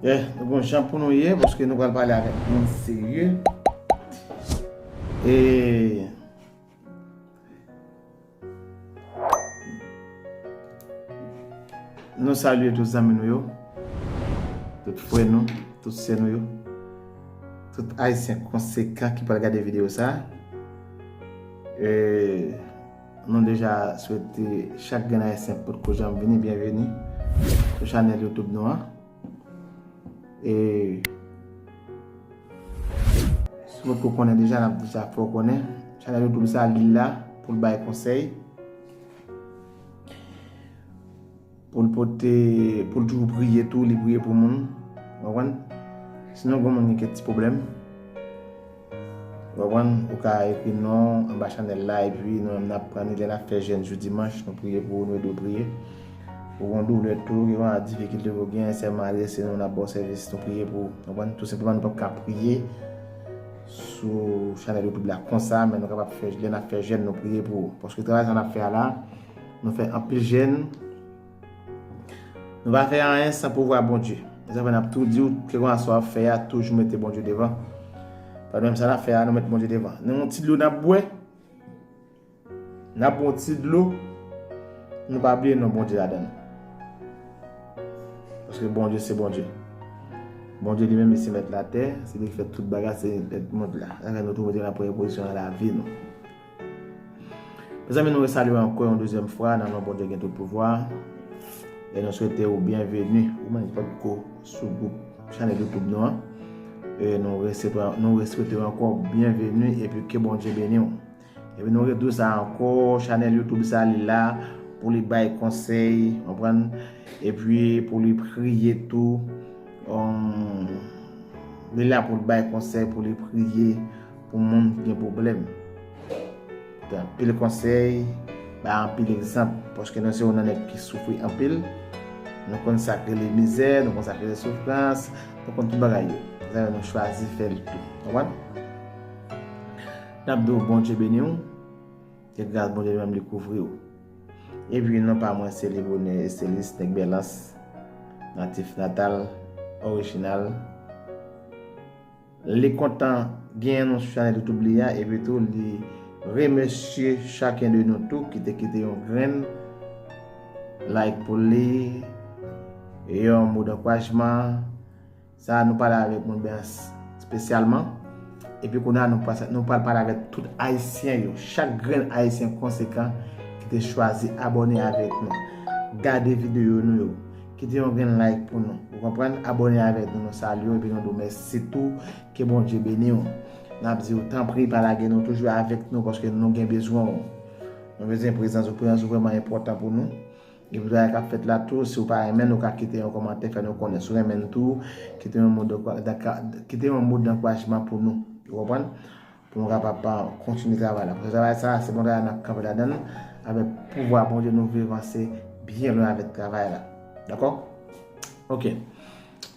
Eh, nou bon jan pou nou ye, pwoske nou pral pale avèk moun serye. E... Nou salye tout zanmi nou yo, tout fwe nou, tout se nou yo, tout ayisyen konsekan ki pral gade video sa. E... Nou deja swete chak grenn ayisyen potko janm vini byenveni sou chanèl YouTube nou an. E si w potko konnen deja nap deja fè w konnen chanèl YouTube sa li la pou l bay konsèy. Pou l pote, pou l toujou priye tou, li priye pou moun. Ou konprann? Si nou gen moun gen kèk ti pwoblèm, ou konprann, ou ka ekri nou anba chanèl la epi nou menm n ap pran li lè n ap fè jèn jou dimanch, nou priye pou ou, nou ede w priye. Ou gen doulè tou, gen yon difikilte ou gen, sèlman adrese nou, n ap ba w sèvis, nou priye pou ou. Ou konprann? Tou senpleman nou pap ka priye sou chanèl YouTube la konsa, men nou kapab fè, lè n ap fè jèn nou priye pou ou. Paske travay sa n ap fè a la. Nou fè anpil jèn. Nou va fè anyen san pouvwa Bondye. Mwen sa fè nap tou diw ke konsa sa wap fè a toujou mete Bondye devan. Pad menm sa nap fè a nou met Bondye devan. Nou yon ti dlo nap bwè. Nap yon ti dlo. Nou pa bliye non Bondye ladann. Paske Bondye se Bondye. Bondye li menm se met la tè. Se li ki fè tout bagay se li ki fè tout moun la. Sa fè nou tou mete nan premye pozisyon nan la vi nou. Mezanmi nou resalyew ankò yon dezyèm fwa nan non Bondye gen tout pouvwa e nou swete ou byenveni ou menm ki potko sou gwoup chanèl YouTube nou an e nou reswetew ankò byenveni epi ke Bondye beniw. Epi nou rediw sa ankò chanèl YouTube sa li la pou li bay konsèy konprann epi pou li priye tou li la pou li bay konsèy pou li priye Pou moun ki gen pwoblèm. Gen anpil konsèy, bay anpil egzanp. Paske nou se yon nan nèg ki soufri anpil. Nou konn sa k rele mizè, nou konn sa k rele soufrans, nou konn tout bagay yo. Zan yo nou chwazi fè l tou. Konprann? N ap di w Bondye beni w. Ke gras Bondye li menm li kouvri w. E pi non pa mwen se Libonè Estelis, nèg Bèlans, natif natal, orijinal. Li kontan genyen nou sou chanèl YouTube li a epi tou li remèsye chaken de nou tou ki te kite yon grenn like pou li, yon mo dankourajman. Sa a nou pale avèk nou byen spesyalman. Epi kounye a nou pral pale avèk tout Ayisyen yo, chak grenn Ayisyen konsekan ki te chwazi abòne avèk nou, gade videyo nou yo. Kite yon grenn like pou nou. Ou konprann? Abone avèk nou nou salye w epi nou di w mèsi tou ke Bondye beni w. Nap di w tanpri pa lage nou toujou avèk nou paske nou gen bezwen w. Nou bezwen prezans ou, prezans ou vrèman enpòtan pou nou. Epi travay kap fèt la tou si w pa renmen l ou ka kite yon kòmantè fè nou konnen. Si w renmen l tou kite yon mo dankourajman pou nou. Ou konprann? Pou nou kapab kontinye travay la. Paske travay sa a se bon travay nap kanpe ladann li. Avèk pouvwa Bondye nou vle vanse byen lwen avèk travay la. Dakò? Ok.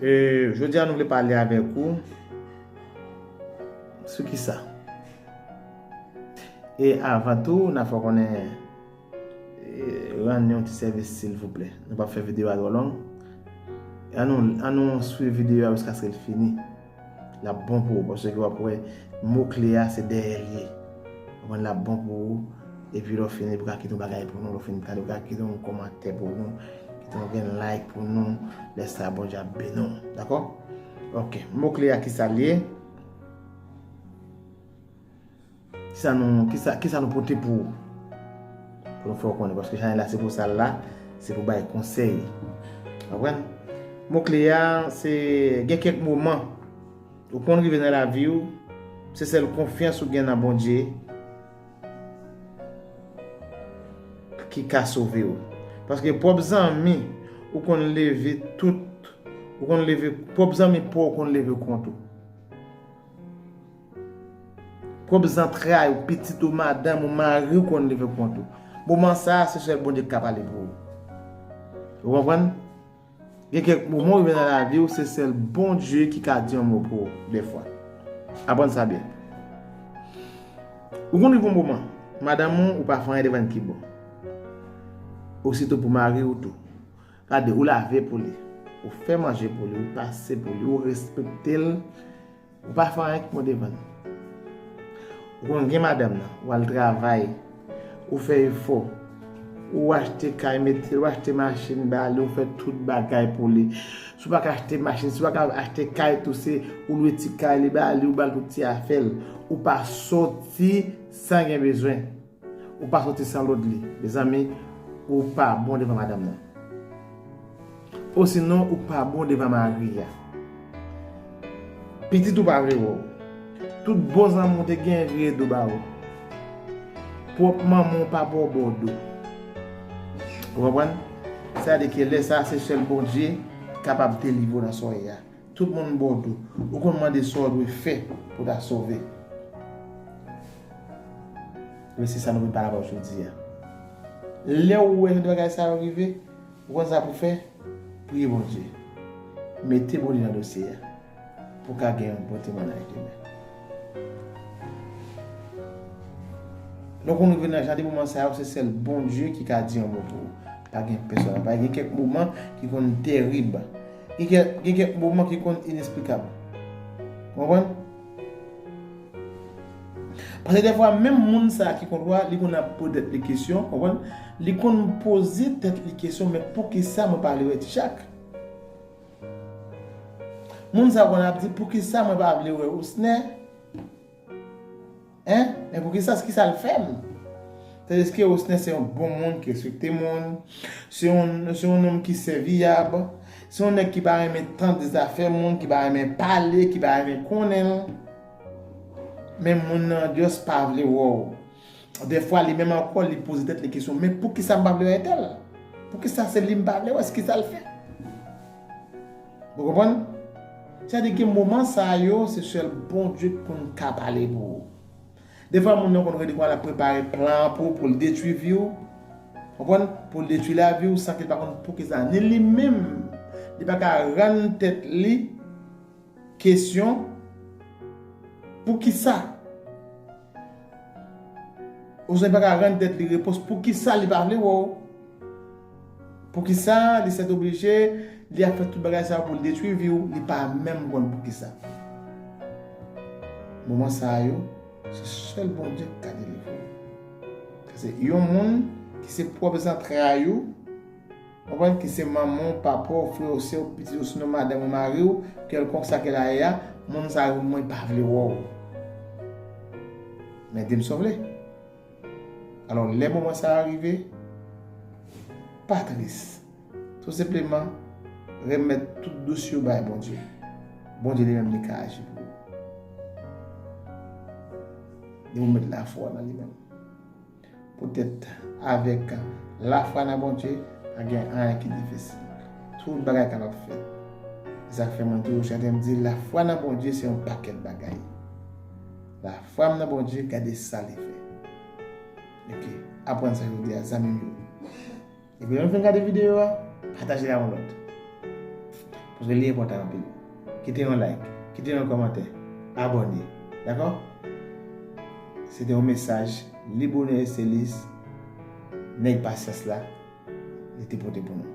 E jodi a nou vle pale avèk ou sou ki sa? E avan tou nan fè w konnen rann yon ti sèvis silvouplè. Nou pap fè videyo a twò long. An nou swiv videyo a jiskaske l fini. Lap bon pou ou paske wap wè mo kle a se dèyèl ye konprann lap bon pou ou epi lè w fini epi w ka kite yon bagay pou nou lè w fini gade w ka kite yon kòmantè pou nou kite yon grenn like pou nou lè sa Bondye ap beni w dakò ok mo kle a kisal ye. Kisa nou, kisa, kisa nou pote pou ou? Pou nou fè ou konnen, paske chanèl la se pou sa l la, se pou bay konsèy. Konprann? Mo kle a, se gen kèk moman ou konn rive nan lavi ou, se sèl konfyans ou gen nan Bondye ki ka sove ou. Paske pwòp zanmi ou konn leve tout, ou konn leve, pwòp zanmi pa w konn leve kont ou. Pwòp zantray ou, pitit ou, madanm ou, mari ou konn leve kont ou. Moman sa a, se sèl Bondye ki ka pale pou ou. Ou konprann? Gen kèk moman ou rive nan lavi ou, se sèl Bondye ki ka di yon mo pou ou, dèfwa. Aprann sa byen. Ou konn rive yon moman, madanm ou, ou pa fè anyen devan li ki bon. Ositou pou mari ou tou. Gade, ou lave pou li, ou fè manje pou li, ou pase pou li, ou respekte l. Ou pa fè anyen ki bon devan li. Ou konn gen madanm nan, ou al travay, ou fè efò, ou achte kay mete, ou achte machin ba li, ou fè tout bagay pou li. Si w pa ka achte machin, si w pa ka achte kay tou se ou lwe ti kay li ba li, ou ba l tout ti afè l. Ou pa soti san gen bezwen. Ou pa soti san lod li. Mezanmi ou pa bon devan madanm nan. Osinon ou pa bon devan mari a. Pitit ou pa vle wè w. Tout bon zanmi w te genyen vire do ba ou. Pwòp manman w pa bo bo do. Ou konprann? Sa vle di ke lè sa se sèl Bondye kapab delivre w nan sòy a. Tout moun bò do. Ou konn mande sa w dwe fè pou w ta sove. Men se sa nou vin pale avè w jodi a. Lè w wè jan de bagay sa yo rive, ou konn sa pou w fè? Priye Bondye. Mete Bondye nan dosye a pou w ka gen yon bon temwanyaj demen. Lè w konn rive nan jan de moman sa yo, se sèl Bondye ki ka di yon mo pou ou. Pa gen pèsòn. Pa gen kèk moman ki konn terib. Gen kèk moman ki konn inesplikab. Ou konprann? Pase dèfwa menm moun sa ki konn wè, li konn ap poze tèt li kesyon, ou konprann? Li konn poze tèt li kesyon men poukisa mwen pa vle wè ti Jak? Moun sa konn ap di poukisa mwen pa vle wè Osnè? Hein? Men pou kisa ki sa l fè m? Se deske Osner se yon bon moun ki respekte moun, se yon nonm ki sèviyab, se yon nèg ki pa renmen tande zafè moun, ki pa renmen pale, ki pa renmen konnen. Men moun nan just pa vle wè w. Dèfwa li menm ankò li poze tèt li kesyon men poukisa m pa vle wè entèl? Poukisa se li m pa vle wè se ki sa l fè? Ou konprann? Sa di gen moman sa yo se sèl Bondye k konn ka pale pou ou. Dèfwa moun nan konn rele kouman l ap prepare plan an pou ou pou l detwi vi w, ou konprann, pou l detwi lavi w san ke l pa konn poukisa ni li menm li pa ka rann tèt li Kesyon, Poukisa? Oswald pa ka rann tèt li repons poukisa li pa vle wè w. Poukisa li sètoblije, li ap fè tout bagay sa yo pou l detwi vi w, li pa menm konn poukisa. Moman sa yo, se sèl Bondye ki ka delivre w. Paske yon moun ki se pwòp zantray ou. Konprann ke se manman w, papa w, frè w, sè w, pitit w sinon madanm ou, mari w, kèlkonk sa ke la ye a, moun sa yo mwen pa vle wè w. Men di m si w vle. Alò lè moman sa a rive, pa tris. Tou senpleman, renmèt tout dosye w bay Bondye. Bondye li menm li ka aji pou ou. Depi w met lafwa nan li menm. Poutèt avèk lafwa nan Bondye, pa gen anyen ki difisil. Tout bagay kapab fèt. Se sa k fè mwen toujou chante m di lafwa nan Bondye se yon pakèt bagay. Lafwa m nan Bondye gade sa li fè. Ok, aprann sa jodi a zanmi m yo. Depi lè nou fin gade videyo a, pataje l ak yon lòt. Paske li enpòtan anpil. Kite yon like, kite yon kòmantè, abòne. Dakò? Se te yon mesaj Libourne Estelis, nèg pasyans la, li te pote pou nou.